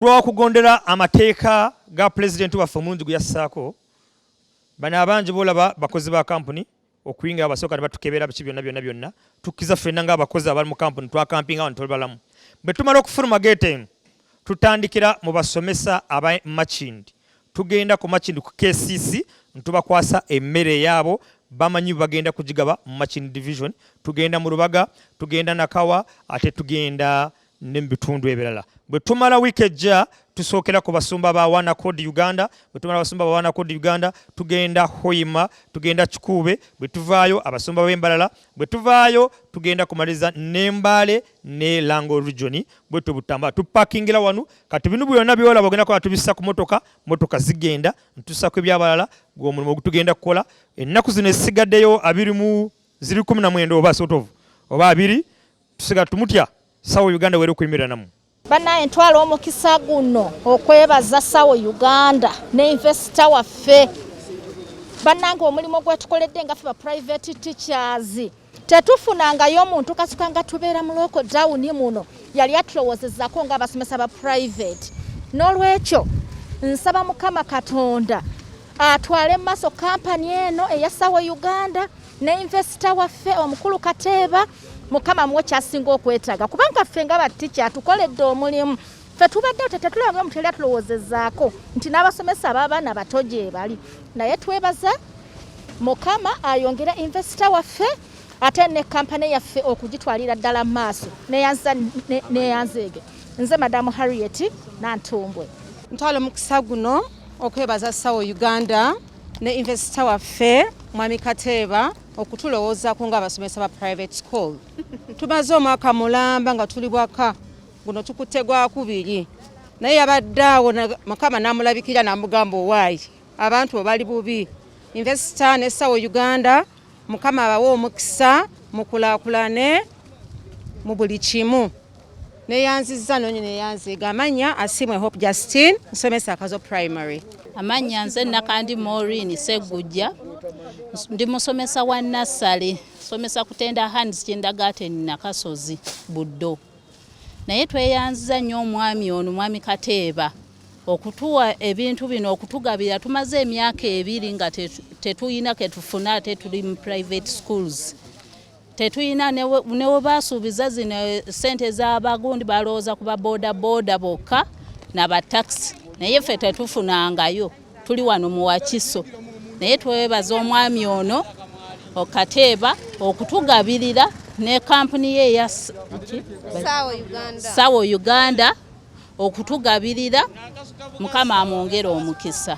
lw'okugondera amateeka ga pulezidenti waffe omulungi gwe yassaako bano abangi boolaba bakozi ba kampuni okuyingira abasooka ne batukebera biki byonna byonna byonna tukkiza ffenna ng'abakozi abali mu kampuni twakampinga wano tuli balamu bwe tumala okufuluma geeta eno tutandikira mu basomesa aba makindi tugenda ku makindi ku kcc ntubakwasa emmere yaabo bamanyi bagenda kugigaba mu makindi division tugenda mu lubaga tugenda nakawa ate tugenda ne mu bitundu ebirala. Bwe tumala wiiki ejja tusookera ku basumba ba Wana Code Uganda. Bwe tumala basumba ba Wana Code Uganda tugenda Hoima, tugenda Kikuube. Bwe tuvaayo abasumba b'Embalala. Bwe tuvaayo tugenda kumaliza ne Mbale ne Lango Region. Bwe tubutamba tupakingira wano. Kati bino byonna byolaba ogenda kuba tubissa ku motoka, motoka zigenda ntusako ebyabalala gw'omulimu ogutugenda kukola. Ennaku zino esigaddeyo abiri mu ziri kumi na mwenda oba sort of oba abiri tusiga tumutya sawo uganda were kuimira namu banaye ntwala omukisa guno okwebaza sawo uganda ne investor waffe banange omulimu gwetukoledde nga fe ba private teachers tetufunangayo omuntu kasuka nga tubeera mu local down muno yali atulowozezako nga abasomesa ba private n'olwekyo nsaba mukama katonda atwale mu maaso kampani eno eyasawo uganda ne invesita waffe omukulu kateeba mukama muwe kyasinga okwetaaga kubanga ffe nga batikya atukoledde omulimu fe tubadde te tetulabanga omuntu yali atulowoozezaako nti n'abasomesa abaabaana bato gyebali naye twebaza mukama ayongera invesita waffe ate ne kampani yaffe okugitwalira ddala mu maaso neyanzeege nze madamu harriet nantumbwe ntwala omukisa guno okwebaza sawo uganda ne invesita waffe mwami kateeba okutulowoozaako ng'abasomesa ba private school tumaze omwaka mulamba nga tuli bwaka guno tukutte gwakubiri naye yabadde awo mukama namulabikira namugamba owaayi abantu obali bubi investor ne sawo uganda mukama abawe omukisa mukulakulane mu buli kimu neyanziza nonyo neyanziga amanya asimwe hope justine nsomesa akazo primary amanya nze nakandi morin segujja ndi musomesa wa nassale somesa kutenda hands kindagaten nakasozi buddo naye tweyanziza nnyo omwami ono mwami kateeba okutuwa ebintu bino okutugabira tumaze emyaka ebiri nga tetuyina ketufuna ate tuli mu private schools tetulina newebaasuubiza zino eh, sente zabagundi balowooza kuba boda boda bokka nabatakisi naye ffe tetufunangayo tuli wano muwakiso naye twebaza omwami ono okateeba okutugabirira ne kampuni ye eya sawo uganda okutugabirira mukama amwongere omukisa